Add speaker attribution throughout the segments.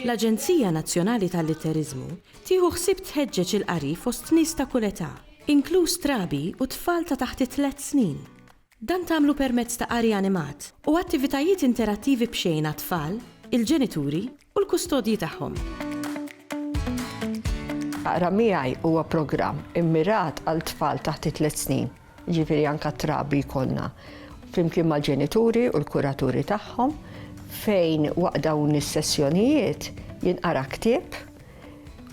Speaker 1: L-Aġenzija Nazzjonali tal-Litteriżmu tieħu ħsieb tħeġġeġ il-qari fost nies ta' kull età, inkluż trabi u tfal ta' taħt it-tliet snin. Dan tagħmlu permezz ta' qari animat u attivitajiet interattivi b'xejn għat-tfal, il-ġenituri u l-kustodji tagħhom.
Speaker 2: Aqra Miegħi huwa programm immirat għal tfal taħt it-tliet snin, jiġifieri anke t-trabi jkollna, flimkien mal-ġenituri u l-kuraturi tagħhom, fejn waqt dawn is-sessjonijiet jinqara ktieb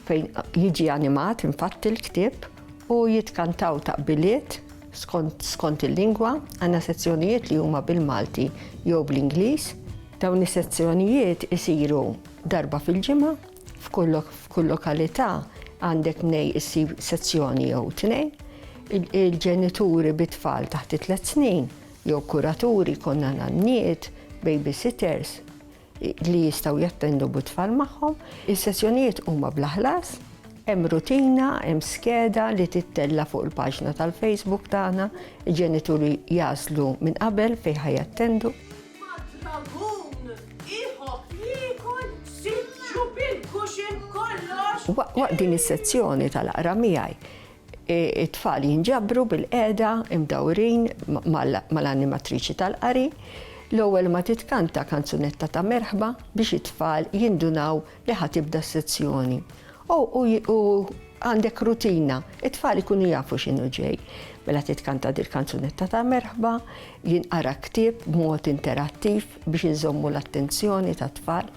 Speaker 2: fejn jiġi animat infatti l-ktieb u jitkantaw taqbiliet skont il-lingwa, għandna sezzjonijiet li huma bil-Malti jew bl-Ingliż. Dawn is-sezzjonijiet isiru darba fil-ġimgħa, f'kull lokalità għandek mnej issib sezzjoni jew tnejn. Il-ġenituri bi tfal taħt it-tliet snin jew kuraturi konna nanniet, babysitters, li jistgħu jattendu bit-tfal magħhom. Is-sessjonijiet huma bla ħlas, hemm rutina, hemm skeda li tittella' fuq il-paġna tal-Facebook tagħna, il-ġenituri jagħżlu minn qabel fejn ħa jattendu. Waqt din is-sezzjoni tal-aqra miegħi, It-tfal jinġabru bilqiegħda, imdawrin mal-animatriċi tal-qari, l-ewwel ma titkanta kanzunetta ta' merħba biex it-tfal jindunaw li ħa tibda s-sezzjoni. O, u għandek rutina, it-tfal ikunu jafu x'inhu ġej. Mela titkanta dil-kanzunetta ta' merħba, jinqara ktieb b'mod interattiv biex inżommu l-attenzjoni tat-tfal.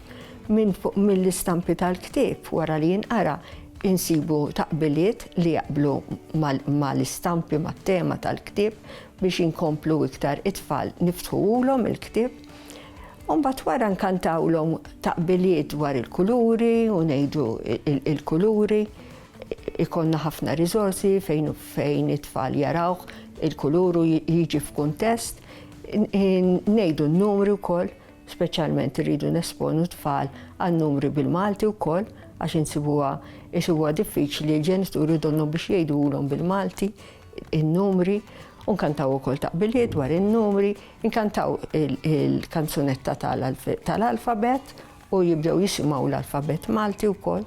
Speaker 2: Minn fuq mill-istampi tal-ktieb wara li jinqara, insibu taqbiliet li jaqblu ma' l-istampi, mat-tema tal-ktieb biex inkomplu iktar it-tfal niftħuhulhom il-ktieb. U mbagħad wara nkantawlhom taqbiliet dwar il-kuluri u ngħidu il-kuluri. Ikollna ħafna riżorsi fejn fejn it-tfal jarawh il-kulur u jiġi f'kuntest. Ngħidu n-numri wkoll Speċjalment irridu nesponu t-tfal għan-numri bil-Malti wkoll għax insibuha isibuha diffiċli l-ġenituri u donnhom biex jgħidulhom bil-Malti n-numri u nkantaw ukoll taqbiliet dwar in-numri, inkantaw il-kanzunetta tal-alfabet u jibdew jisimgħu l-alfabet Malti wkoll.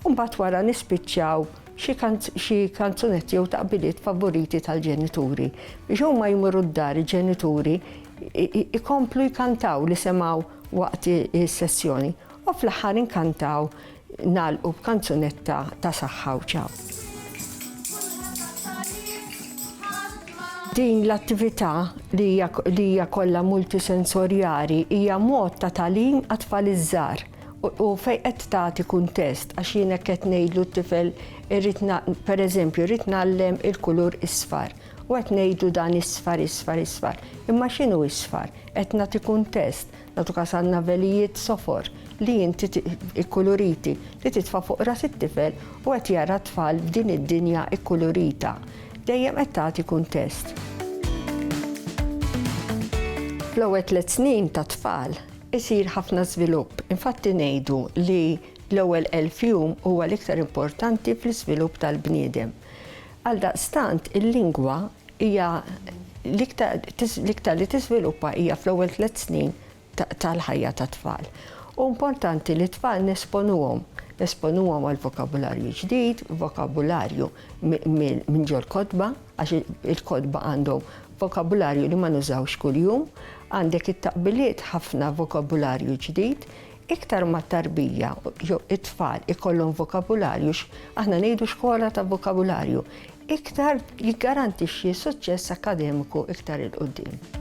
Speaker 2: U mbagħad wara nispiċċaw xi xi kanzunetti jew taqbiliet favoriti tal-ġenituri. Biex huma jmorru d-dar il-ġenituri ikomplu jkantaw li semgħu waqt is-sessjoni. U fl-aħħar inkantaw nagħlqu b'kanzunetta ta' saħħa u ċaw. Din l-attività li hija kollha multisensorjali hija mod ta' tagħlim għat-tfal iż-żgħar. U fejn qed tagħti kuntest għax jien hekk qed ngħidlu t-tifel irrid pereżempju rrid nagħllem il-kulur isfar u qed ngħidu dan isfar isfar isfar. Imma x'inhu isfar? Qed nagħti kuntest, nagħtu każ għandna velijiet sofor li inti ikkuluriti li titfa' fuq ras it-tifel u qed jara tfal f'din id-dinja ikkulurita. Dejjem qed tagħti kuntest. Fl-ewwel tliet snin tat-tfal, Isir ħafna żvilupp, infatti ngħidu li l-ewwel elf jum huwa l-iktar importanti fl-iżvilupp tal-bniedem. Għaldaqstant il-lingwa hija l-iktar li tiżviluppa hija fl-ewwel tliet snin tal-ħajja tat-tfal. Hu importanti li t-tfal nesponuhom, nesponuhom għal vokabularju ġdid, vokabularju minn ġol-kotba għax il-kotba għandhom Vokabularju li ma nużawx kuljum, għandek it-taqbiliet ħafna vokabularju ġdid, iktar ma t-tarbija jew it-tfal ikollhom vokabularju, aħna ngħidu xkola ta' vokabularju, iktar jiggarantixxi suċċess akkademiku iktar 'il quddiem.